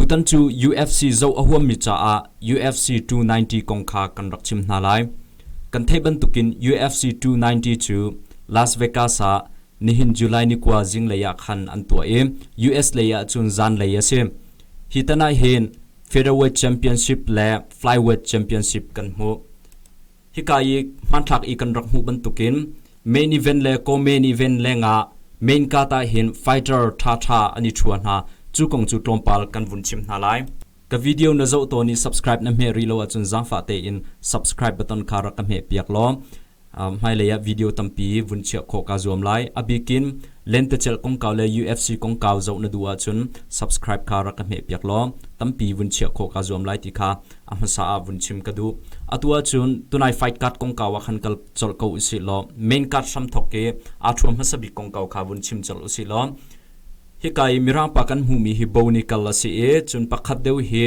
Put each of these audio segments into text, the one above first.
Tutan cu UFC zoh a huammi caah UFC 290 kong kha kan rak chim hna lai. Kan theih bantukin UFC 290 cu Las Vegas ah nihin July ni kua zinglei ah khan an tuah i US lei ah cun zanlei a si. Hi tan ah hin featherweight championship le flyweight championship kan hmuh. Hika i hmanthlak i kan rak hmuh bantukin main event le co-main event lengah main card ah hin fighter ṭhaṭha an i ṭhua hna. Cu kong cu tlawmpal kan vun chim hna lai. Ka video na zoh tawn i subscribe na hmeh rih lo ahcun zaangfah tein subscribe button kha rak ka hmeh piak law uh, hmailei ah video tampi vun chiah khawh kaa zuam lai. A bikin lentecelh kongkau le UFC kongkau zoh na duh ahcun subscribe kha rak ka hmeh piak law tampi vun chiah khawh kaa zuam lai ti kha a hmasa ah vun chim ka duh. Atu ahcun tunai fight card kongkau ah khan kal colh ko usih law main card hramthok ke aa thuam hmasa bik kongkau kha vun chim colh usih law hika i mirangpa kan hmuhmi hi bonical a si i cun pakhat deuh hi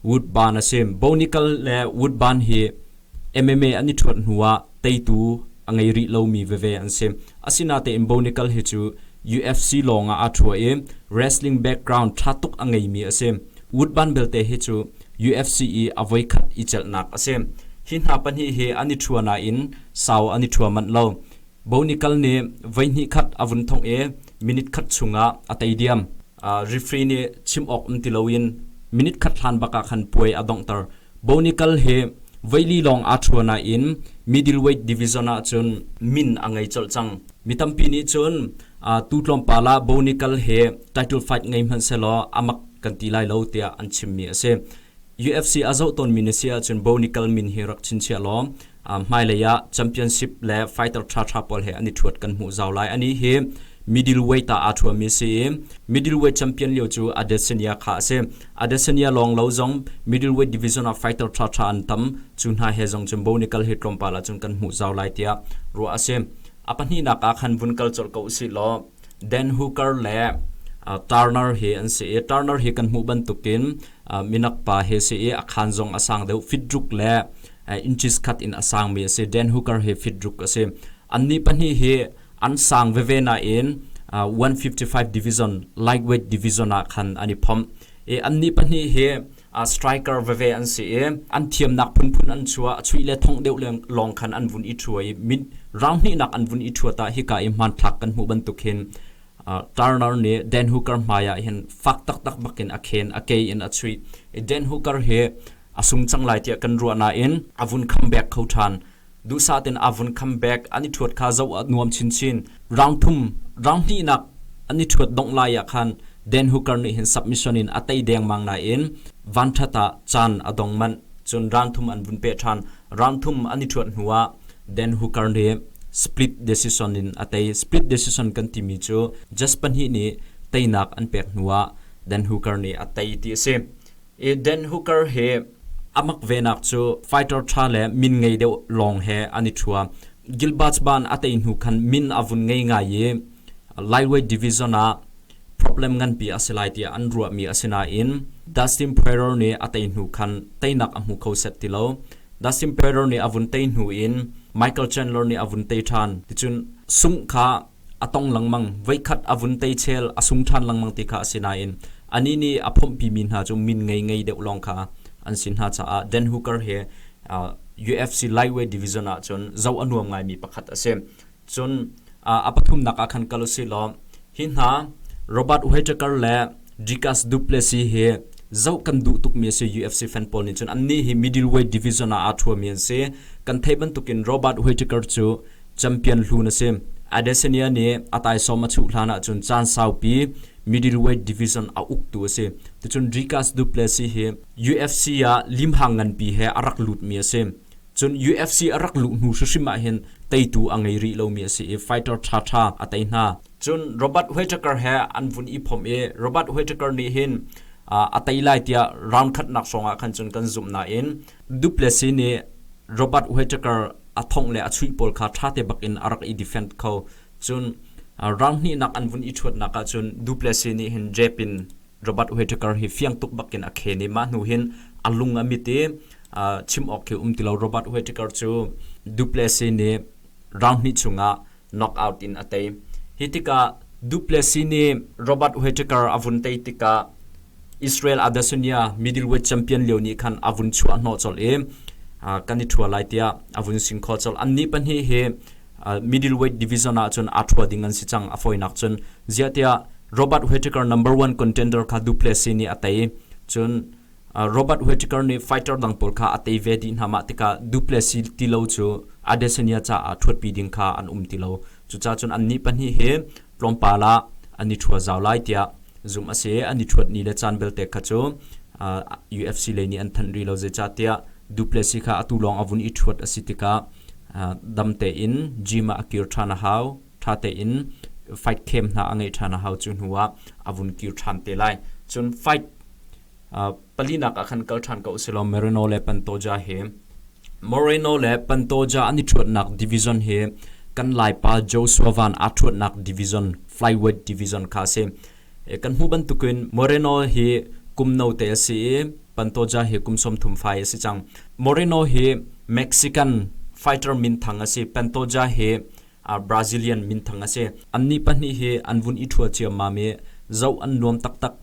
wood ban a si bonical le wood ban hi MMA an i thuat hnu ah teitu a ngei rih lomi veve an si. Asinatein Bonical hi cu UFC lawng ah aa ṭhu i wrestling background ṭha tuk a ngeimi a si. Wood ban belte hi cu UFC i a voikhat i celhnak a si. Hi hna pahnih hi an i ṭhua nain sau an i ṭhua manh lo. Bonical nih voihnih khat a vun thongh i minute khat chung ah a tei diam. refree nih chim awk um ti loin minute khat hlan bak ah khan puai a donghter Bonikal he veili lawng aa ṭhua nain middleweight division ah cun min a ngei colh cang mi tampi nih cun tu tlawmpal ah Bonikal he title fight ngei hmanhsehlaw a mak kan ti lai lo tiah an chimmi a si UFC a zoh tawnmi na si ahcun Bonikal min hi rak chinchiah law hmailei ah championship le fighter ṭhaṭha pawl he an i ṭhuat kan hmuh zau lai ani hi middleweight ah aa ṭhuami si i middleweight champion lio cu Adesanya kha a si Adesanya lawng lo zong middleweight division ah fighter ṭhaṭha an tam cu hna he zong cun Bonical hi tlawmpal ah cun kan hmuh zau lai tiah ruah a si a pahnihnak ah khan vun kal colh ko usih law Dan Hooker le Turner hi an si i Turner hi kan hmuh bantukin minak pa he si i a khan zong a sang deuh fitdruk le inches khat in a sangmi a si Dan Hooker hi fit ruk a si annih pahnih hi an sang veve nain 155 division lightweight division ah khan an i phomh i annih pahnih hi striker veve an si i an thiamnak phunphun an chua a chuih le thongh deuh lawng khan an vun i thua i mit round hnihnak an vun i thua ta hika i hmanthlak kan hmuh bantuk hin Turner nih Dan Hooker hmai ah hin fak taktak bakin a khen a ke in a chuih i Dan Hooker hi a sung cang lai tiah kan ruah nain a vun khambek kho ṭhan. Duhsah tein aa vun khambek, an i ṭhuat kha zoh a nuam chinchin. Rang thum, rang hnihnak an i ṭhuat dongh lai ah khan Dan Hooker nih hin submission in a tei dengmang nain vanṭhat ah caan a dong manh, cun rang thum an vun peh ṭhan. Rang thum an i ṭhuat hnu ah Dan Hooker nih split decision in a tei. Split decision kan timi cu just pahnih nih teinak an pek hnu ah Dan Hooker nih a tei ti a si. Eden Hooker hi a mak venak cu fighter ṭha le min ngei deuh lawng he an i ṭhua. Gilbert ban a tei hnu khan min a vun ngei ngai i lightweight division ah problem nganpi a si lai tiah an ruahmi a si nain Dustin Poirier nih a tei hnu khan teinak a hmu kho set ti lo. Dustin Poirier nih a vun tei hnu in Michael Chandler nih a vun tei ṭhan. Ticun sungh kha a tong lengmang. Voikhat a vun teichel a sung ṭhan lengmang ti kha a si nain anih nih a phomhpimi hna cu min ngeingei deuh lawng kha an si hna caah Dan Hooker hi uh, UFC lightweight division ah cun zoh a nuam ngaimi pakhat a si. Cun uh, a pathumnak ah khan kal u si law hi hna Robert Whittaker le Dicas Duplessis hi zoh kan duh tukmi a si UFC fan pawl nih cun annih hi middleweight division ah aa ṭhuami an si kan thei bantukin Robert Whittaker cu champion hlu na si. Adesanya nih a taisawm a chuh hlan ahcun caan saupi middleweight division a uktu a si. Ticun Rikas Duplessis hi UFC ah limhang nganpi he a rak lutmi a si. Cun UFC a rak luh hnu hrim ah hin teitu a ngei rih lomi a si i fighter ṭhaṭha a tei hna. Cun Robert Whittaker he an vun i phomh i Robert Whittaker nih hin a tei lai tiah round khatnak hrawng ah khan cun kan zumh nain Duplessis nih Robert Whittaker a thongh le a chuih pawl kha ṭha te bak in a rak i defend kho. Cun rang hnihnak an vun i ṭhuatnak ah cun Duplessis nih hin jep in Robert Whittaker hi fiang tuk bak in a khen i mah hnu hin a lung a mit i chim awk khi um ti lo. Robert Whittaker cu Duplessis nih rang hnih chung ah knockout in a tei. Hi tikah Duplessis nih Robert Whittaker a vun tei tikah Israel Adesanya middleweight champion lio nih khan a vun chuah hnawh colh i uh, kan i ṭhua lai tiah a vun sin kho colh. Annih pahnih hi uh, middleweight division ah cun aa ṭhua ding an si cang a foinak cun ziahtiah Robert Whittaker number one contender kha Duplessis nih a tei cun Robert Whittaker nih fighter dang pawl kha a tei ve dih hna mah tikah Duplessis tilo cu Adesanya caah ṭhuatpi ding kha an um ti lo. Cucaah cun annih pahnih hi tlawmpal ah an i ṭhua zau lai tiah zumh a si i an i ṭhuat ni le caan belte kha cu UFC lei nih an thanh rih lo zeicahtiah Duplessis kha atu lawng a vun i ṭhuat a si tikah dam tein gym ah a kir ṭhan a hau. ṭha tein faihthlem hna a ngeih ṭhan a hau cu hnu ah a vun kir ṭhan te lai cun fight palinak ah khan kal ṭhan ko usilaw Merino le Pantoja he Moreno le Pantoja an i ṭhuatnak division hi kan laipa Joshua Van aa ṭhuatnak division flyweight division kha a si kan hmuh bantukin Moreno hi kum note a si i Pantoja hi kum sawmthum fai a si cang Moreno hi Mexican fighter minthang a si Pantoja hi Brazilian minthang a si. Annih pahnih hi an vun i ṭhua ciammam i zoh an nuam taktak.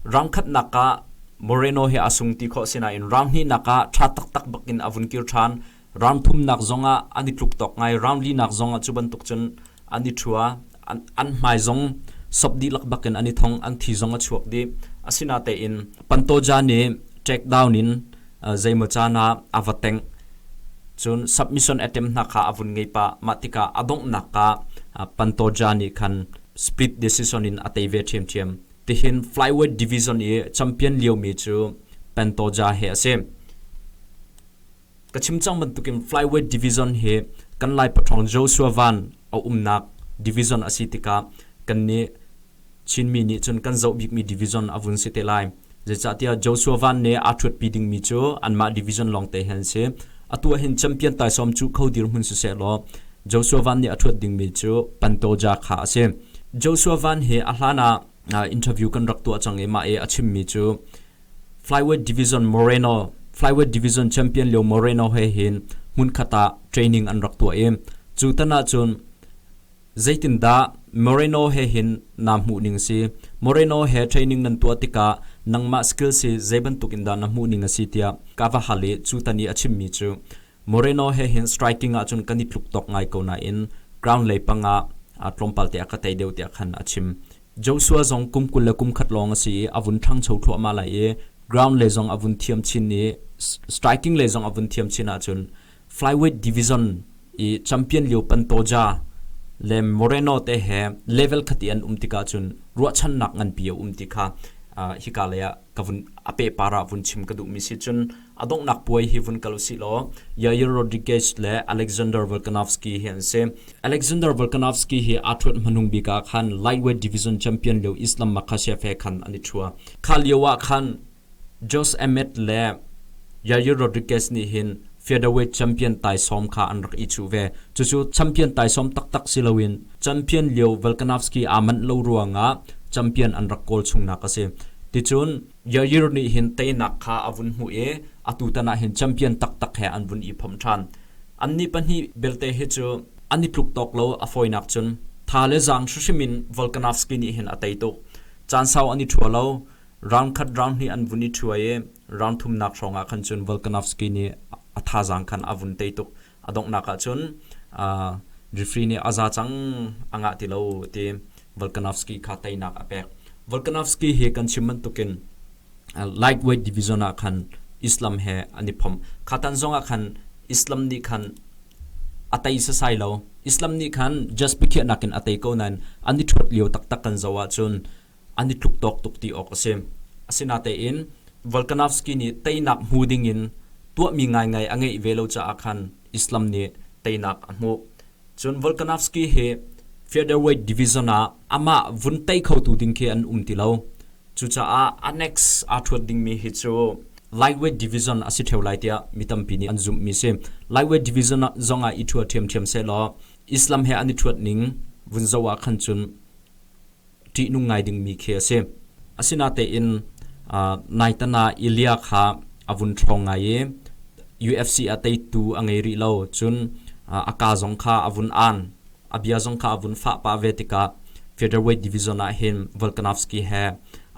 Rang khatnak ah Moreno hi aa sung ti khawh si nain rang hnihnak ah ṭha taktak bakin a vun kir ṭhan. Rang thumnak zong ah an i tluk tawk ngai. Rang linak zong ah cu bantuk cun an i ṭhua. an hmai zong sop dihlak bak in an i thong an thi zong a chuak dih asinatein Pantoja nih trackdown in zeimaw caan ah a va tengh cun submission attempt hna kha a vun ngei pah mah tikah a donghnak ah Pantoja nih khan split decision in a tei ve ṭhiamṭhiam tihin flyweight division i champion liomi cu Pantoja he a si ka chim cang bantukin flyweight division hi kan lai pathrawng Joshua Van a umnak division a si tikah kan nih Chinmi nih cun kan zoh bikmi division a vun si te lai zeicahtiah Joshua Van nih aa ṭhuatpi dingmi cu anmah division lawng te hi an si atu ahhin champion taisawm cu kho dirhmun siseh law Joshua Van nih a ṭhuat dingmi cu Pantoja kha a si Joshua Van hi a hlan ah interview kan rak tuah cang i mah i a chimmi cu Flyweight division Moreno Flyweight division champion Leo Moreno he hin hmunkhat ah training an rak tuah i cu tan ahcun zeitindah Moreno he hin naa hmuh ning si Moreno he training nan tuah tikah nangmah skills hi zei bantuk in dah na hmuh ning a si tiah ka va hal i cu tan i a chimmi cu Moreno he hin striking ahcun kan i tluk tawk ngai ko nain ground lei pang ah tlawmpal te a ka tei deuh tiah khan a chim Joshua zong kum kul le kum khat lawng a si i a vun ṭhangcho thluahmah lai i ground lei zong a vun thiam chin i striking lei zong a vun thiam chin ahcun flyweight division i champion lio Pantoja le Moreno te he level khat i an um tik ahcun ruahchannak nganpi a um ti kha uh, hika lei ah ka vun a pehpar ah vun chim ka duhmi si cun A donghnak puai hi vun kal usih law Yair Rodriguez le Alexander Volkanovski hi an si. Alexander Volkanovski hi aa ṭhuat hmanung bik ah khan lightweight division champion lio Islam Makhachev he khan an i ṭhua. Kha lio ah khan Jose Amet le Yair Rodriguez nih hin featherweight champion taisawm kha an rak i chuh ve. Cucu champion taisawm taktak si loin champion lio Volkanovski aa manh lo ruangah champion an rak kawl chungnak a si. Ticun Yair nih hin teinak kha a vun hmuh i atutan ah hin champion taktak he an vun i phomh ṭhan. Annih pahnih belte hi cu an i tluk tawk lo a fawinak cun tha le zaang hrihrim in Volkanovski nih hin a tei tuk. Caan sau an i ṭhua lo. Round khat round hnih an vun i ṭhua i round thumnak hrawng ah khan cun Volkanovski nih a thazaang khan a vun tei tuk. a donghnak ah cun refree nih a za cang a ngah ti lo ti Volkanovski kha teinak a pek Volkanovski hi kan chim bantukin lightweight division ah khan Islam he an i phom khatan zong ah khan Islam nih khan a tei sasai lo Islam nih khan just pikhiahnak in a tei ko nain an i thuat lio taktak kan zo ah cun an i tluk tawk tuk ti awk a si. Asinatein Volkanovski nih teinak hmu dingin tuahmi ngaingai a ngeih ve lo caah khan Islam nih teinak a hmuh. Cun Volkanovski hi featherweight division ah amah vun tei khotu ding khi an um ti lo. Cucaah annex aa ṭhuat dingmi hi cu lightweight division a si ṭheo lai tiah mi tampi nih an zumhmi si. Lightweight division zong ah i ṭhuat ṭhiamṭhiam sehlaw Islam he an i ṭhuat ning vun zoh ah khan cun ṭihnung ngai dingmi khi a si. Asinatein naitana Ilia kha a vun ṭhawng ngai i UFC a teitu a ngei rih lo. Cun a kaa zong kha a vun aan, a bia zong kha a vun fah pah ve tikah featherweight division ah hin Volkanovski he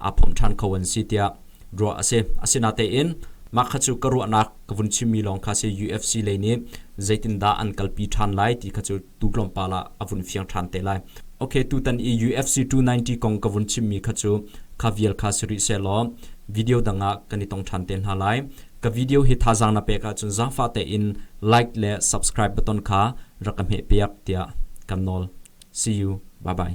aa phomh ṭhan kho an si tiah ruah a si. Asinatein mah kha cu ka ruahnak ka vun chimmi lawng kha a si. UFC lei nih zeitindah an kalpi ṭhan lai ti kha cu tu tlawmpal ah a vun fiang ṭhan te lai. Okay, tutan i UFC 290 kong ka vun chimmi kha cu kha vial kha si rih sehlaw video dang ah kan i tong ṭhan te hna lai. Ka video hi thazaang na pek ahcun zaangfah tein like le subscribe button kha rak ka hmeh piak tiah kan nawl. See you. Bye bye.